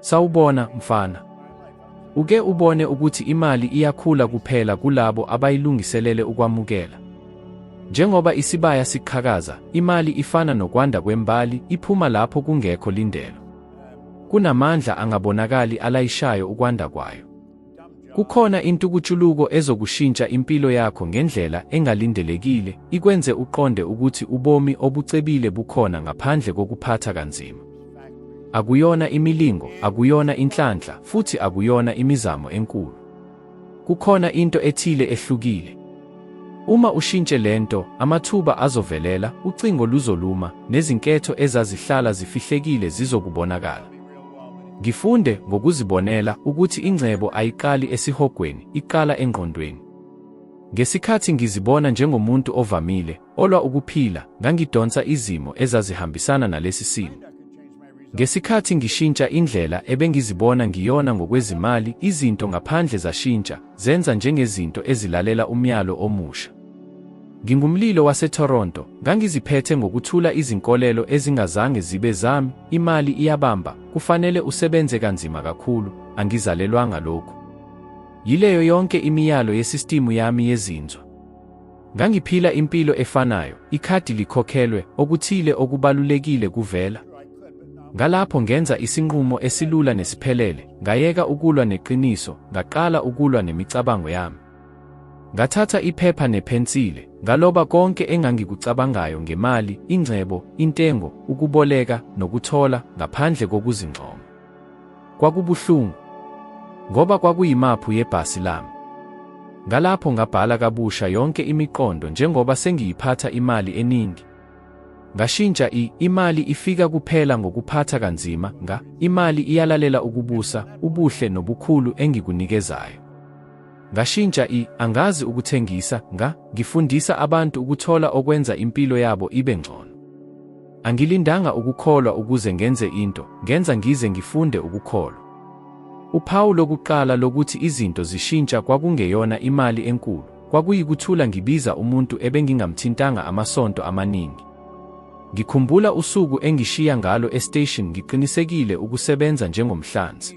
Sawubona, mfana. Uke ubone ukuthi imali iyakhula kuphela kulabo abayilungiselele ukwamukela. Njengoba isibaya siqhakaza, imali ifana nokwanda kwembali, iphuma lapho kungekho lindelo. Kunamandla angabonakali alayishayo ukwanda kwayo. Kukhona intukutshuluko ezokushintsha impilo yakho ngendlela engalindelekile, ikwenze uqonde ukuthi ubomi obucebile bukhona ngaphandle kokuphatha kanzima. Akuyona imilingo, akuyona inhlanhla, futhi akuyona imizamo enkulu. Kukhona into ethile ehlukile. Uma ushintshe lento, amathuba azovelela, ucingo luzoluma, nezinketho ezazihlala zifihlekile zizokubonakala. Ngifunde ngokuzibonela ukuthi ingcebo ayiqali esihogweni, iqala engqondweni. Ngesikhathi ngizibona njengomuntu ovamile, olwa ukuphila, ngangidonsa izimo ezazihambisana nalesi simo. Ngesikhathi ngishintsha indlela ebengizibona ngiyona ngokwezimali, izinto ngaphandle zashintsha, zenza njengezinto ezilalela umyalo omusha. Ngingumlilo waseToronto, ngangiziphethe ngokuthula izinkolelo ezingazange zibe zami, imali iyabamba, kufanele usebenze kanzima kakhulu, angizalelwanga lokhu. Yileyo yonke imiyalo yesistimu yami yezinzwa. Ngangiphila impilo efanayo, ikhadi likhokhelwe, okuthile okubalulekile kuvela. Ngalapho ngenza isinqumo esilula nesiphelele, ngayeka ukulwa neqiniso, ngaqala ukulwa nemicabango yami. Ngathatha iphepha nephensile, ngaloba konke engangikucabangayo ngemali, ingcebo, intengo, ukuboleka, nokuthola, ngaphandle kokuzincoma. Kwakubuhlungu. Ngoba kwakuyimaphu yebhasi lami. Ngalapho ngabhala kabusha yonke imiqondo njengoba sengiyiphatha imali eningi. Ngashintsha i imali ifika kuphela ngokuphatha kanzima, nga imali iyalalela ukubusa, ubuhle nobukhulu engikunikezayo. Ngashintsha i angazi ukuthengisa nga ngifundisa abantu ukuthola okwenza impilo yabo ibe ngcono. Angilindanga ukukholwa ukuze ngenze into, ngenza ngize ngifunde ukukholwa. Uphawu lokuqala lokuthi izinto zishintsha kwakungeyona imali enkulu, kwakuyikuthula ngibiza umuntu ebengingamthintanga amasonto amaningi. Ngikhumbula usuku engishiya ngalo estation ngiqinisekile ukusebenza njengomhlanzi.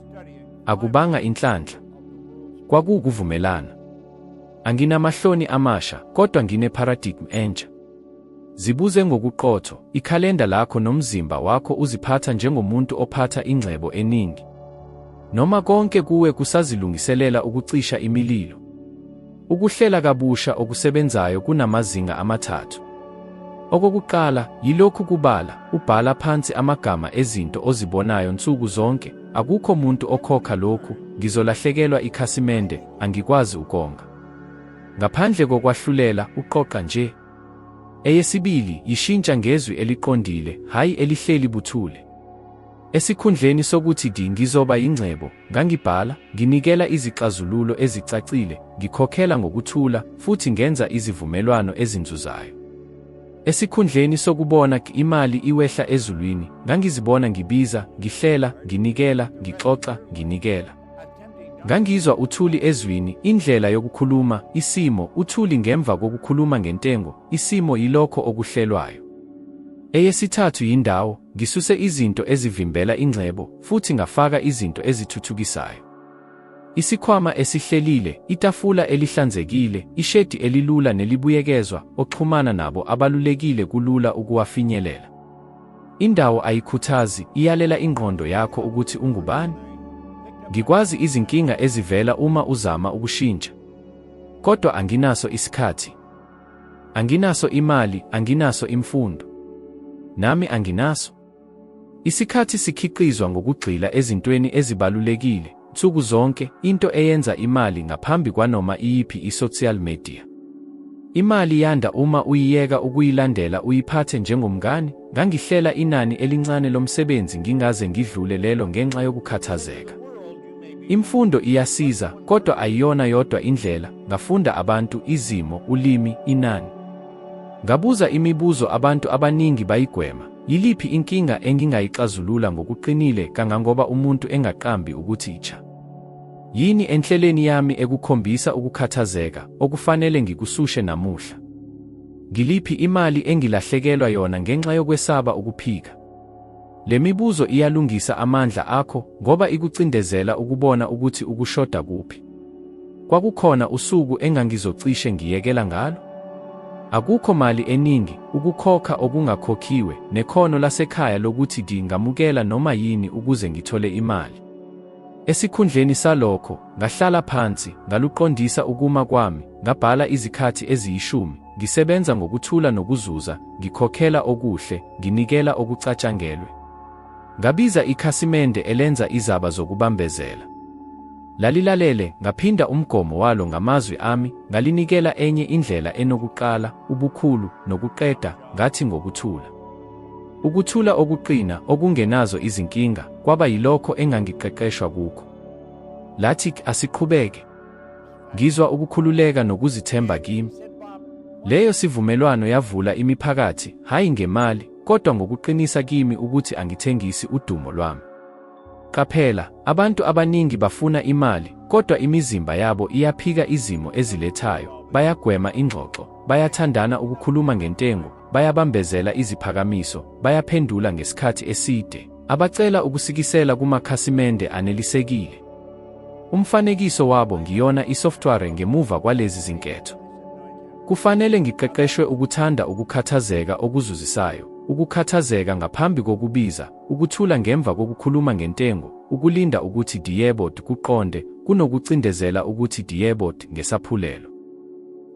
Akubanga inhlanhla. Kwakuwukuvumelana. Anginamahloni amasha, kodwa ngineparadigm entsha. Zibuze ngokuqotho, ikhalenda lakho nomzimba wakho uziphatha njengomuntu ophatha ingcebo eningi. Noma konke kuwe kusazilungiselela ukucisha imililo. Ukuhlela kabusha okusebenzayo kunamazinga amathathu. Okokuqala, yilokhu kubala, ubhala phansi amagama ezinto ozibonayo nsuku zonke, akukho muntu okhokha lokhu, ngizolahlekelwa ikhasimende, angikwazi ukonga. Ngaphandle kokwahlulela, uqoqa nje. Eyesibili, yishintsha ngezwi eliqondile, hhayi elihleli buthule. Esikhundleni sokuthi di ngizoba yingcebo, Ngangibhala, nginikela izixazululo ezicacile, ngikhokhela ngokuthula, futhi ngenza izivumelwano ezinzuzayo. Esikhundleni sokubona imali iwehla ezulwini, ngangizibona ngibiza, ngihlela, nginikela, ngixoxa, nginikela. Ngangizwa uthuli ezwini, indlela yokukhuluma, isimo, uthuli ngemva kokukhuluma ngentengo, isimo yilokho okuhlelwayo. Eyesithathu yindawo, ngisuse izinto ezivimbela ingcebo, futhi ngafaka izinto ezithuthukisayo. Isikhwama esihlelile, itafula elihlanzekile, ishedi elilula nelibuyekezwa, oxhumana nabo abalulekile kulula ukuwafinyelela. Indawo ayikhuthazi, iyalela ingqondo yakho ukuthi ungubani. Ngikwazi izinkinga ezivela uma uzama ukushintsha. Kodwa anginaso isikhathi. Anginaso imali, anginaso imfundo. Nami anginaso. Isikhathi sikhiqizwa ngokugxila ezintweni ezibalulekile nsuku zonke, into eyenza imali ngaphambi kwanoma iyiphi i-social media. Imali yanda uma uyiyeka ukuyilandela uyiphathe njengomngani, ngangihlela inani elincane lomsebenzi ngingaze ngidlule lelo ngenxa yokukhathazeka. Imfundo iyasiza, kodwa ayiyona yodwa indlela, ngafunda abantu, izimo, ulimi, inani. Ngabuza imibuzo abantu abaningi bayigwema. Yiliphi inkinga engingayixazulula ngokuqinile kangangoba umuntu engaqambi ukuthi icha? Yini enhleleni yami ekukhombisa ukukhathazeka okufanele ngikusushe namuhla? Ngiliphi imali engilahlekelwa yona ngenxa yokwesaba ukuphika? Le mibuzo iyalungisa amandla akho ngoba ikucindezela ukubona ukuthi ukushoda kuphi. Kwakukhona usuku engangizocishe ngiyekela ngalo? Akukho mali eningi, ukukhokha okungakhokhiwe, nekhono lasekhaya lokuthi ngingamukela noma yini ukuze ngithole imali. Esikhundleni salokho, ngahlala phansi, ngaluqondisa ukuma kwami, ngabhala izikhathi eziyishumi, ngisebenza ngokuthula nokuzuza, ngikhokhela okuhle, nginikela okucatshangelwe. Ngabiza ikhasimende elenza izaba zokubambezela. Lalilalele, ngaphinda umgomo walo ngamazwi ami, ngalinikela enye indlela enokuqala, ubukhulu, nokuqeda, ngathi ngokuthula. Ukuthula okuqina, okungenazo izinkinga, kwaba yilokho engangiqeqeshwa kukho. Lathi, asiqhubeke. Ngizwa ukukhululeka nokuzithemba kimi. Leyo sivumelwano yavula imiphakathi, hhayi ngemali, kodwa ngokuqinisa kimi ukuthi angithengisi udumo lwami. Qaphela, abantu abaningi bafuna imali, kodwa imizimba yabo iyaphika izimo ezilethayo, bayagwema ingxoxo, bayathandana ukukhuluma ngentengo, bayabambezela iziphakamiso, bayaphendula ngesikhathi eside, abacela ukusikisela kumakhasimende anelisekile. Umfanekiso wabo ngiyona isoftware ngemuva kwalezi zinketho. Kufanele ngiqeqeshwe ukuthanda ukukhathazeka okuzuzisayo, ukukhathazeka ngaphambi kokubiza, Ukuthula ngemva kokukhuluma ngentengo, ukulinda ukuthi diyebot kuqonde, kunokucindezela ukuthi diyebot ngesaphulelo.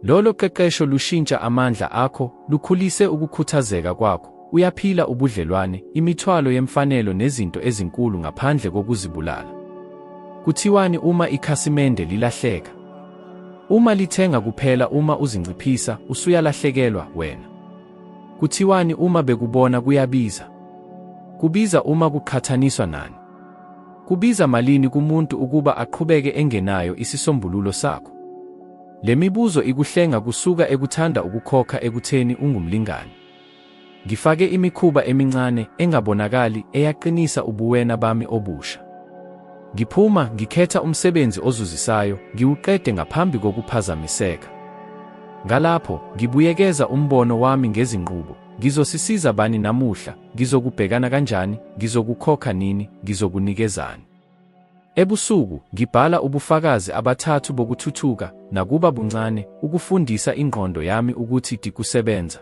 Lolo qeqesho lushintsha amandla akho, lukhulise ukukhuthazeka kwakho, uyaphila ubudlelwane, imithwalo yemfanelo nezinto ezinkulu ngaphandle kokuzibulala. Kuthiwani uma ikhasimende lilahleka? Uma lithenga kuphela uma uzinciphisa, usuyalahlekelwa wena. Kuthiwani uma bekubona kuyabiza? Kubiza uma kuqhathaniswa nani? Kubiza malini kumuntu ukuba aqhubeke engenayo isisombululo sakho? Le mibuzo ikuhlenga kusuka ekuthanda ukukhokha ekutheni ungumlingani. Ngifake imikhuba emincane engabonakali eyaqinisa ubuwena bami obusha. Ngiphuma, ngikhetha umsebenzi ozuzisayo, ngiwuqede ngaphambi kokuphazamiseka. Ngalapho, ngibuyekeza umbono wami ngezinqubo. Ngizosisiza bani namuhla? Ngizokubhekana kanjani? Ngizokukhokha nini? Ngizokunikezani? Ebusuku, ngibhala ubufakazi abathathu bokuthuthuka, nakuba buncane, ukufundisa ingqondo yami ukuthi dikusebenza.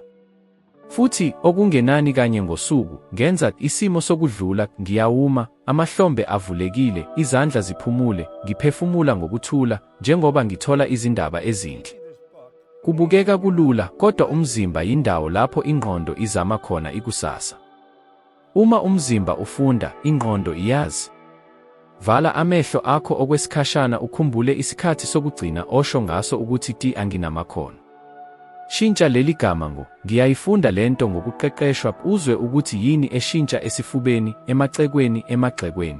Futhi, okungenani kanye ngosuku, ngenza isimo sokudlula, ngiyawuma, amahlombe avulekile, izandla ziphumule, ngiphefumula ngokuthula, njengoba ngithola izindaba ezinhle. Kubukeka kulula, kodwa umzimba yindawo lapho ingqondo izama khona ikusasa. Uma umzimba ufunda, ingqondo iyazi. Vala amehlo akho okwesikhashana ukhumbule isikhathi sokugcina osho ngaso ukuthi ti anginamakhono. Shintsha leli gama ngo ngiyayifunda lento ngokuqeqeshwa uzwe ukuthi yini eshintsha esifubeni, emacekweni, emagxekweni.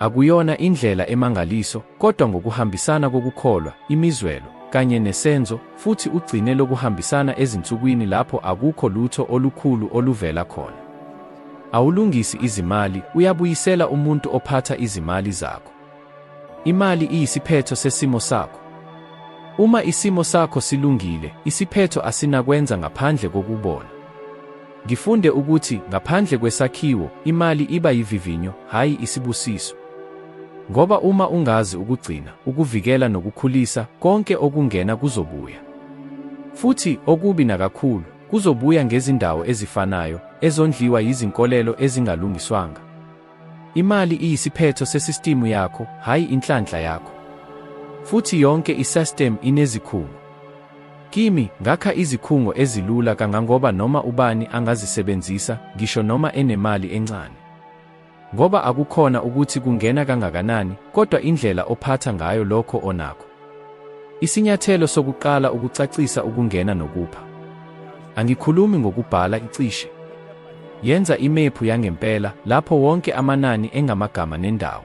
Akuyona indlela emangaliso, kodwa ngokuhambisana kokukholwa, imizwelo, kanye nesenzo, futhi ugcine lokuhambisana ezinsukwini lapho akukho lutho olukhulu oluvela khona. Awulungisi izimali, uyabuyisela umuntu ophatha izimali zakho. Imali iyisiphetho sesimo sakho. Uma isimo sakho silungile, isiphetho asinakwenza ngaphandle kokubona. Ngifunde ukuthi ngaphandle kwesakhiwo, imali iba yivivinyo, hhayi isibusiso. Ngoba uma ungazi ukugcina, ukuvikela nokukhulisa, konke okungena kuzobuya. Futhi, okubi nakakhulu, kuzobuya ngezindawo ezifanayo, ezondliwa yizinkolelo ezingalungiswanga. Imali iyisiphetho sesistimu yakho, hhayi inhlanhla yakho. Futhi yonke isystem inezikhungo. Kimi, ngakha izikhungo ezilula kangangoba noma ubani angazisebenzisa, ngisho noma enemali encane. Ngoba akukhona ukuthi kungena kangakanani, kodwa indlela ophatha ngayo lokho onakho. Isinyathelo sokuqala ukucacisa ukungena nokupha. Angikhulumi ngokubhala icishe. Yenza imephu yangempela lapho wonke amanani engamagama nendawo.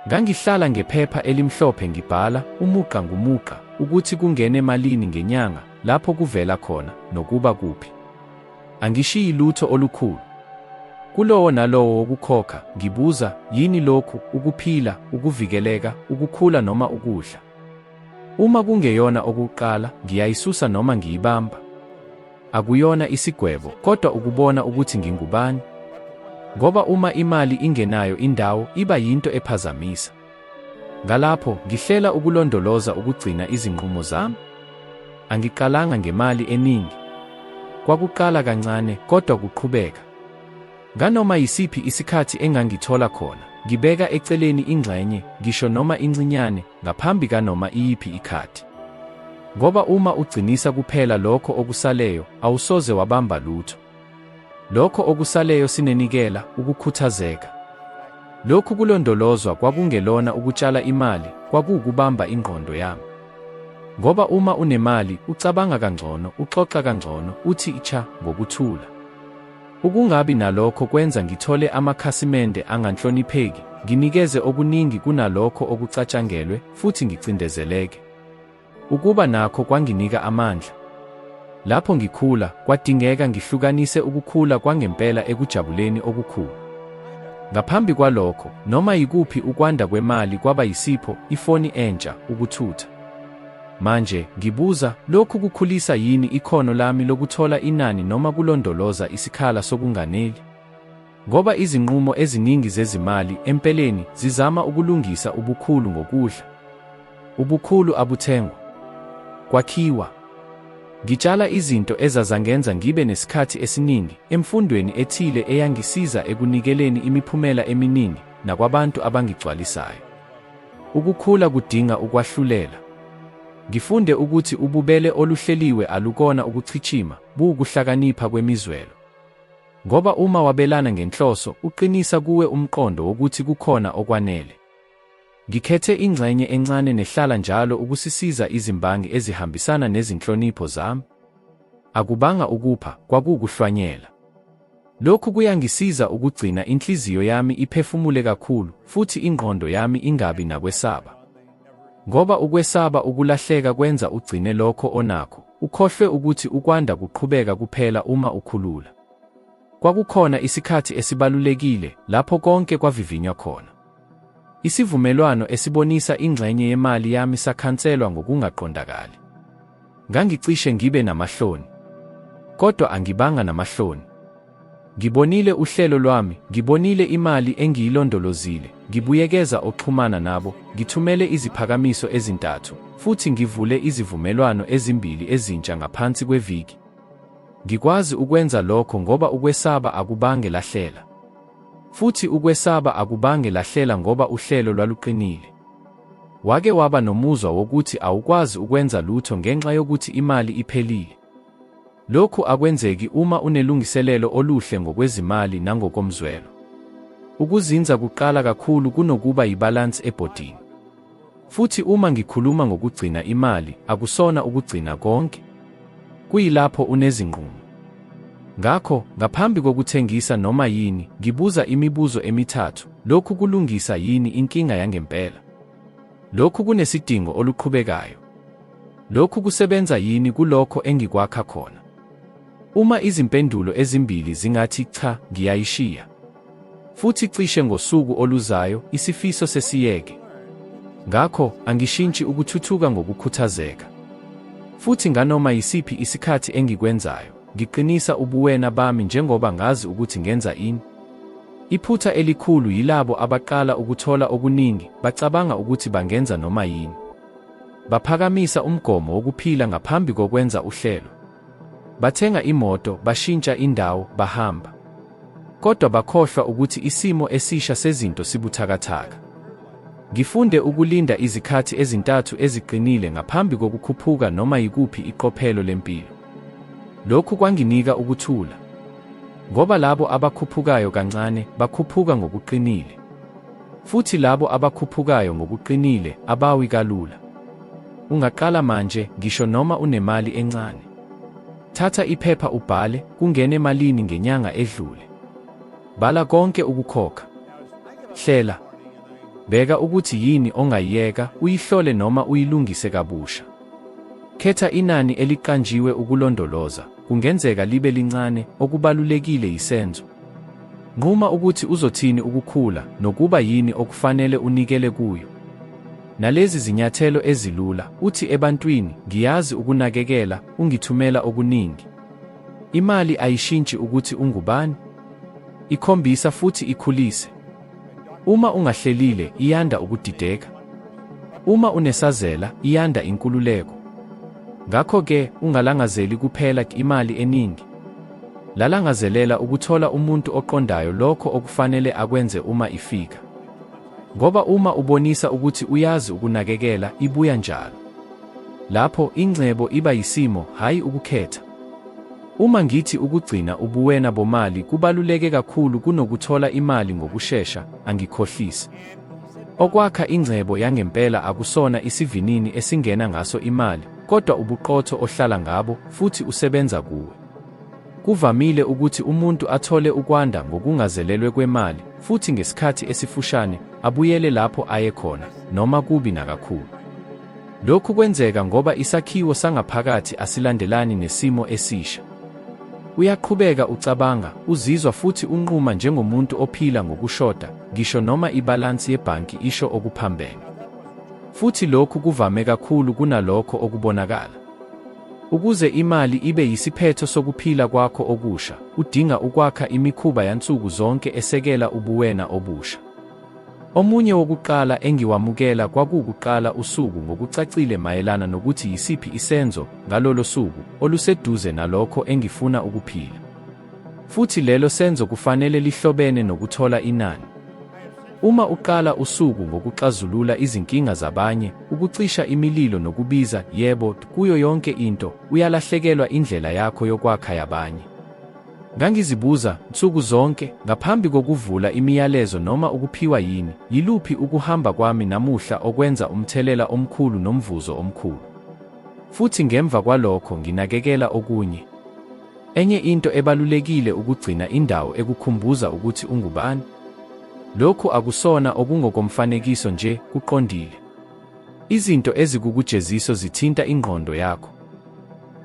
Ngangihlala ngephepha elimhlophe ngibhala umuqa ngumuqa ukuthi kungene malini ngenyanga, lapho kuvela khona, nokuba kuphi. Angishiyi lutho olukhulu. Kulowo nalowo wokukhokha, ngibuza, yini lokhu, ukuphila, ukuvikeleka, ukukhula noma ukudla? Uma kungeyona okuqala, ngiyayisusa noma ngiyibamba. Akuyona isigwebo, kodwa ukubona ukuthi ngingubani. Ngoba uma imali ingenayo indawo, iba yinto ephazamisa. Ngalapho, ngihlela ukulondoloza ukugcina izinqumo zami. Angiqalanga ngemali eningi. Kwakuqala kancane, kodwa kuqhubeka. Nganoma yisiphi isikhathi engangithola khona, ngibeka eceleni ingxenye, ngisho noma incinyane, ngaphambi kanoma iyiphi ikhathi. Ngoba uma ugcinisa kuphela lokho okusaleyo, awusoze wabamba lutho. Lokho okusaleyo sinenikela, ukukhuthazeka. Lokhu kulondolozwa kwakungelona ukutshala imali, kwakuwukubamba ingqondo yami. Ngoba uma unemali, ucabanga kangcono, uxoxa kangcono, uthi icha ngokuthula. Ukungabi nalokho kwenza ngithole amakhasimende anganhlonipheki, nginikeze okuningi kunalokho okucatshangelwe, futhi ngicindezeleke. Ukuba nakho kwanginika amandla. Lapho ngikhula, kwadingeka ngihlukanise ukukhula kwangempela ekujabuleni okukhulu. Ngaphambi kwalokho, noma yikuphi ukwanda kwemali kwaba yisipho, ifoni entsha, ukuthutha. Manje, ngibuza, lokhu kukhulisa yini ikhono lami lokuthola inani noma kulondoloza isikhala sokunganeli? Ngoba izinqumo eziningi zezimali empeleni zizama ukulungisa ubukhulu ngokudla. Ubukhulu abuthengwa. Kwakhiwa. Ngitshala izinto ezazangenza ngibe nesikhathi esiningi emfundweni ethile eyangisiza ekunikeleni imiphumela eminingi nakwabantu abangigcwalisayo. Ukukhula kudinga ukwahlulela. Ngifunde ukuthi ububele oluhleliwe alukona ukuchichima, buwukuhlakanipha kwemizwelo. Ngoba uma wabelana ngenhloso, uqinisa kuwe umqondo wokuthi kukhona okwanele. Ngikhethe ingxenye encane nehlala njalo ukusisiza izimbangi ezihambisana nezinhlonipho zami. Akubanga ukupha, kwakuwukuhlwanyela. Lokhu kuyangisiza ukugcina inhliziyo yami iphefumule kakhulu futhi ingqondo yami ingabi nakwesaba. Ngoba ukwesaba ukulahleka kwenza ugcine lokho onakho, ukhohlwe ukuthi ukwanda kuqhubeka kuphela uma ukhulula. Kwakukhona isikhathi esibalulekile lapho konke kwavivinywa khona. Isivumelwano esibonisa ingxenye yemali yami sakhanselwa ngokungaqondakali. Ngangicishe ngibe namahloni. Kodwa angibanga namahloni. Ngibonile uhlelo lwami, ngibonile imali engiyilondolozile, ngibuyekeza oxhumana nabo, ngithumele iziphakamiso ezintathu, futhi ngivule izivumelwano ezimbili ezintsha ngaphansi kweviki. Ngikwazi ukwenza lokho ngoba ukwesaba akubange lahlela. Futhi ukwesaba akubange lahlela ngoba uhlelo lwaluqinile. Wake waba nomuzwa wokuthi awukwazi ukwenza lutho ngenxa yokuthi imali iphelile? Lokhu akwenzeki uma unelungiselelo oluhle ngokwezimali nangokomzwelo. Ukuzinza kuqala kakhulu kunokuba yibalansi ebhodini. Futhi uma ngikhuluma ngokugcina imali, akusona ukugcina konke. Kuyilapho unezinqumo. Ngakho, ngaphambi kokuthengisa noma yini, ngibuza imibuzo emithathu, lokhu kulungisa yini inkinga yangempela? Lokhu kunesidingo oluqhubekayo? Lokhu kusebenza yini kulokho engikwakha khona? Uma izimpendulo ezimbili zingathi cha, ngiyayishiya. Futhi cishe ngosuku oluzayo, isifiso sesiyeke. Ngakho, angishintshi ukuthuthuka ngokukhuthazeka. Futhi nganoma yisiphi isikhathi engikwenzayo, ngiqinisa ubuwena bami njengoba ngazi ukuthi ngenza ini. Iphutha elikhulu yilabo abaqala ukuthola okuningi, bacabanga ukuthi bangenza noma yini. Baphakamisa umgomo wokuphila ngaphambi kokwenza uhlelo. Bathenga imoto, bashintsha indawo, bahamba. Kodwa bakhohlwa ukuthi isimo esisha sezinto sibuthakathaka. Ngifunde ukulinda izikhathi ezintathu eziqinile ngaphambi kokukhuphuka noma yikuphi iqophelo lempilo. Lokhu kwanginika ukuthula. Ngoba labo abakhuphukayo kancane bakhuphuka ngokuqinile. Futhi labo abakhuphukayo ngokuqinile abawi kalula. Ungaqala manje, ngisho noma unemali encane. Thatha iphepha ubhale kungene malini ngenyanga edlule. Bhala konke ukukhokha. Hlela. Bheka ukuthi yini ongayiyeka, uyihlole noma uyilungise kabusha. Khetha inani eliqanjiwe ukulondoloza, kungenzeka libe lincane, okubalulekile yisenzo. Nquma ukuthi uzothini ukukhula nokuba yini okufanele unikele kuyo. Nalezi zinyathelo ezilula, uthi ebantwini, ngiyazi ukunakekela, ungithumela okuningi. Imali ayishintshi ukuthi ungubani. Ikhombisa futhi ikhulise. Uma ungahlelile, iyanda ukudideka. Uma unesazela, iyanda inkululeko. Ngakho-ke, ungalangazeli kuphela imali eningi. Lalangazelela ukuthola umuntu oqondayo lokho okufanele akwenze uma ifika. Ngoba uma ubonisa ukuthi uyazi ukunakekela, ibuya njalo. Lapho ingcebo iba yisimo, hhayi ukukhetha. Uma ngithi ukugcina ubuwena bomali kubaluleke kakhulu kunokuthola imali ngokushesha, angikhohlisi. Okwakha ingcebo yangempela akusona isivinini esingena ngaso imali, kodwa ubuqotho ohlala ngabo futhi usebenza kuwe. Kuvamile ukuthi umuntu athole ukwanda ngokungazelelwe kwemali futhi ngesikhathi esifushane abuyele lapho aye khona, noma kubi nakakhulu. Lokhu kwenzeka ngoba isakhiwo sangaphakathi asilandelani nesimo esisha. Uyaqhubeka ucabanga, uzizwa futhi unquma njengomuntu ophila ngokushoda, ngisho noma ibhalansi yebhanki isho okuphambene. Futhi lokhu kuvame kakhulu kunalokho okubonakala. Ukuze imali ibe yisiphetho sokuphila kwakho okusha, udinga ukwakha imikhuba yansuku zonke esekela ubuwena obusha. Omunye wokuqala engiwamukela kwakuwukuqala usuku ngokucacile mayelana nokuthi yisiphi isenzo ngalolo suku oluseduze nalokho engifuna ukuphila. Futhi lelo senzo kufanele lihlobene nokuthola inani. Uma uqala usuku ngokuxazulula izinkinga zabanye, ukucisha imililo nokubiza, yebo, kuyo yonke into, uyalahlekelwa indlela yakho yokwakha yabanye. Ngangizibuza, nsuku zonke, ngaphambi kokuvula imiyalezo noma ukuphiwa yini, yiluphi ukuhamba kwami namuhla okwenza umthelela omkhulu nomvuzo omkhulu. Futhi ngemva kwalokho nginakekela okunye. Enye into ebalulekile ukugcina indawo ekukhumbuza ukuthi ungubani. Lokhu akusona okungokomfanekiso nje, kuqondile. Izinto ezikukujeziso zithinta ingqondo yakho.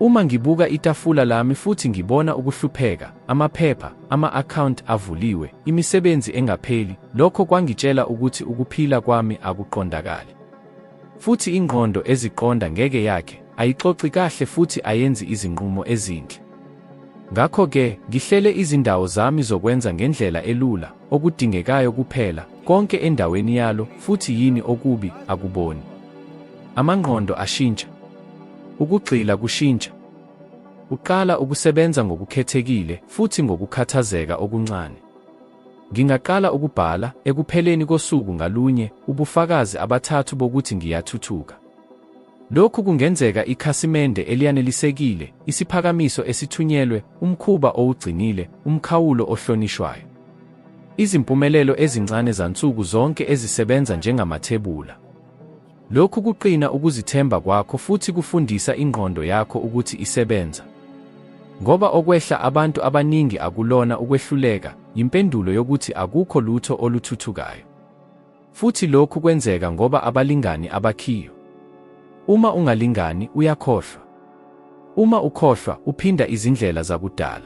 Uma ngibuka itafula lami futhi ngibona ukuhlupheka, amaphepha, ama-akhawunti avuliwe, imisebenzi engapheli, lokho kwangitshela ukuthi ukuphila kwami akuqondakali. Futhi ingqondo eziqonda ngeke yakhe, ayixoxi kahle futhi ayenzi izinqumo ezinhle. Ngakho-ke, ngihlele izindawo zami zokwenza ngendlela elula, okudingekayo kuphela, konke endaweni yalo, futhi yini okubi, akuboni. Amangqondo ashintsha. Ukugxila kushintsha. Uqala ukusebenza ngokukhethekile futhi ngokukhathazeka okuncane. Ngingaqala ukubhala, ekupheleni kosuku ngalunye, ubufakazi abathathu bokuthi ngiyathuthuka. Lokhu kungenzeka ikhasimende eliyanelisekile, isiphakamiso esithunyelwe, umkhuba owugcinile, umkhawulo ohlonishwayo. Izimpumelelo ezincane zansuku zonke ezisebenza njengamathebula. Lokhu kuqina ukuzithemba kwakho futhi kufundisa ingqondo yakho ukuthi isebenza. Ngoba okwehla abantu abaningi akulona ukwehluleka, yimpendulo yokuthi akukho lutho oluthuthukayo. Futhi lokhu kwenzeka ngoba abalingani abakhiyo. Uma ungalingani, uyakhohlwa. Uma ukhohlwa, uphinda izindlela zakudala.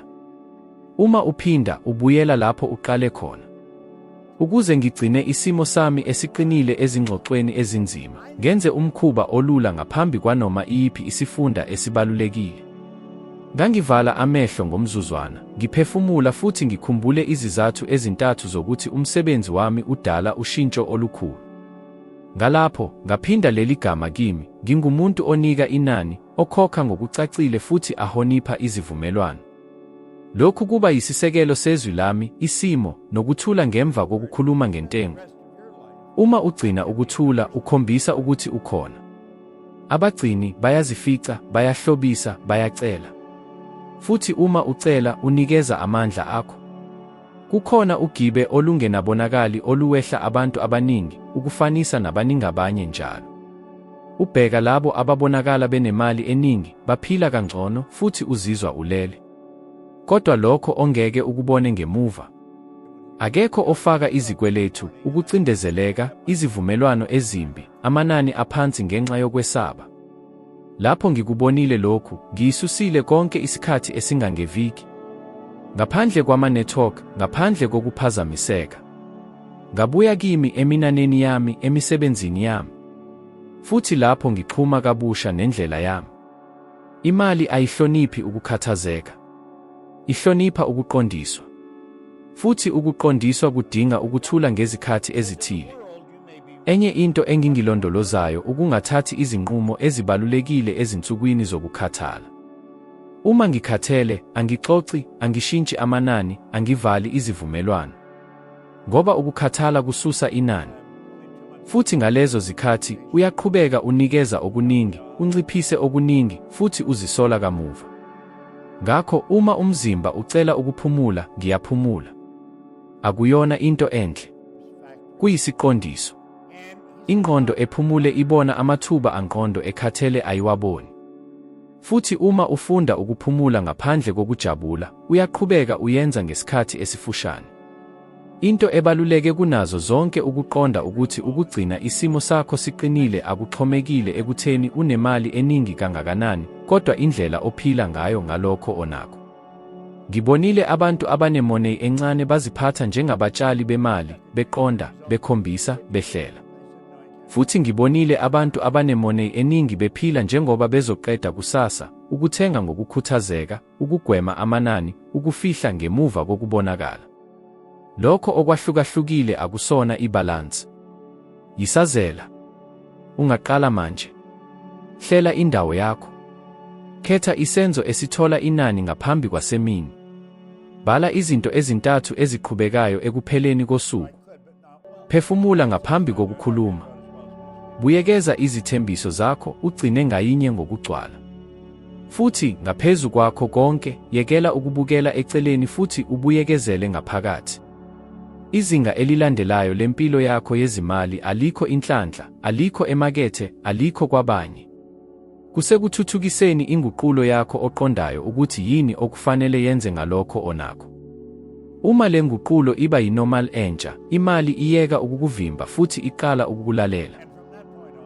Uma uphinda, ubuyela lapho uqale khona. Ukuze ngigcine isimo sami esiqinile ezingxoxweni ezinzima, ngenze umkhuba olula ngaphambi kwanoma iyiphi isifunda esibalulekile. Ngangivala amehlo ngomzuzwana, ngiphefumula futhi ngikhumbule izizathu ezintathu zokuthi umsebenzi wami udala ushintsho olukhulu. Ngalapho, ngaphinda leli gama kimi, ngingumuntu onika inani, okhokha ngokucacile futhi ahonipha izivumelwano. Lokhu kuba yisisekelo sezwi lami, isimo, nokuthula ngemva kokukhuluma ngentengo. Uma ugcina ukuthula, ukhombisa ukuthi ukhona. Abagcini bayazifica, bayahlobisa, bayacela. Futhi uma ucela, unikeza amandla akho. Kukhona ugibe olungenabonakali oluwehla abantu abaningi, ukufanisa nabaningabanye njalo. Ubheka labo ababonakala benemali eningi, baphila kangcono, futhi uzizwa ulele. Kodwa lokho ongeke ukubone ngemuva. Akekho ofaka izikweletu, ukucindezeleka, izivumelwano ezimbi, amanani aphansi ngenxa yokwesaba. Lapho ngikubonile lokhu, ngiyisusile konke isikhathi esingangeviki. Ngaphandle kwama-network, ngaphandle kokuphazamiseka. Ngabuya kimi eminaneni yami, emisebenzini yami. Futhi lapho ngixhuma kabusha nendlela yami. Imali ayihloniphi ukukhathazeka. Ihlonipha ukuqondiswa. Futhi ukuqondiswa kudinga ukuthula ngezikhathi ezithile. Enye into engingilondolozayo ukungathathi izinqumo ezibalulekile ezinsukwini zokukhathala. Uma ngikhathele, angixoxi, angishintshi amanani, angivali izivumelwano. ngoba ukukhathala kususa inani. Futhi ngalezo zikhathi uyaqhubeka unikeza okuningi, unciphise okuningi, futhi uzisola kamuva. Ngakho uma umzimba ucela ukuphumula, ngiyaphumula. Akuyona into enhle. Kuyisiqondiso. Ingqondo ephumule ibona amathuba angqondo ekhathele ayiwaboni. Futhi uma ufunda ukuphumula ngaphandle kokujabula, uyaqhubeka uyenza ngesikhathi esifushane. Into ebaluleke kunazo zonke ukuqonda ukuthi ukugcina isimo sakho siqinile akuxhomekile ekutheni unemali eningi kangakanani, kodwa indlela ophila ngayo ngalokho onakho. Ngibonile abantu abanemoney encane baziphatha njengabatshali bemali, beqonda, bekhombisa, behlela. Futhi ngibonile abantu abanemoney eningi bephila njengoba bezoqeda kusasa, ukuthenga ngokukhuthazeka, ukugwema amanani, ukufihla ngemuva kokubonakala. Lokho okwahlukahlukile akusona ibhalansi. Yisazela. Ungaqala manje. Hlela indawo yakho. Khetha isenzo esithola inani ngaphambi kwasemini. Bhala izinto ezintathu eziqhubekayo ekupheleni kosuku. Phefumula ngaphambi kokukhuluma. Buyekeza izithembiso zakho ugcine ngayinye ngokugcwala. Futhi ngaphezu kwakho konke, yekela ukubukela eceleni futhi ubuyekezele ngaphakathi. Izinga elilandelayo lempilo yakho yezimali alikho inhlanhla, alikho emakethe, alikho kwabanye. Kusekuthuthukiseni inguqulo yakho oqondayo ukuthi yini okufanele yenze ngalokho onakho. Uma le nguqulo iba yinormal entsha, imali iyeka ukukuvimba futhi iqala ukukulalela.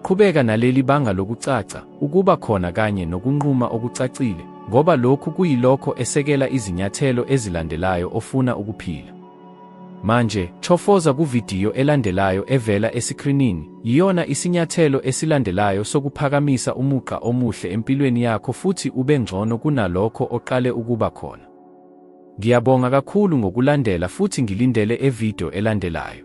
Qhubeka naleli banga lokucaca, ukuba khona kanye nokunquma okucacile, ngoba lokhu kuyilokho esekela izinyathelo ezilandelayo ofuna ukuphila. Manje, chofoza kuvidiyo elandelayo evela esikrinini. Yiyona isinyathelo esilandelayo sokuphakamisa umugqa omuhle empilweni yakho futhi ube ngcono kunalokho oqale ukuba khona. Ngiyabonga kakhulu ngokulandela futhi ngilindele evideo elandelayo.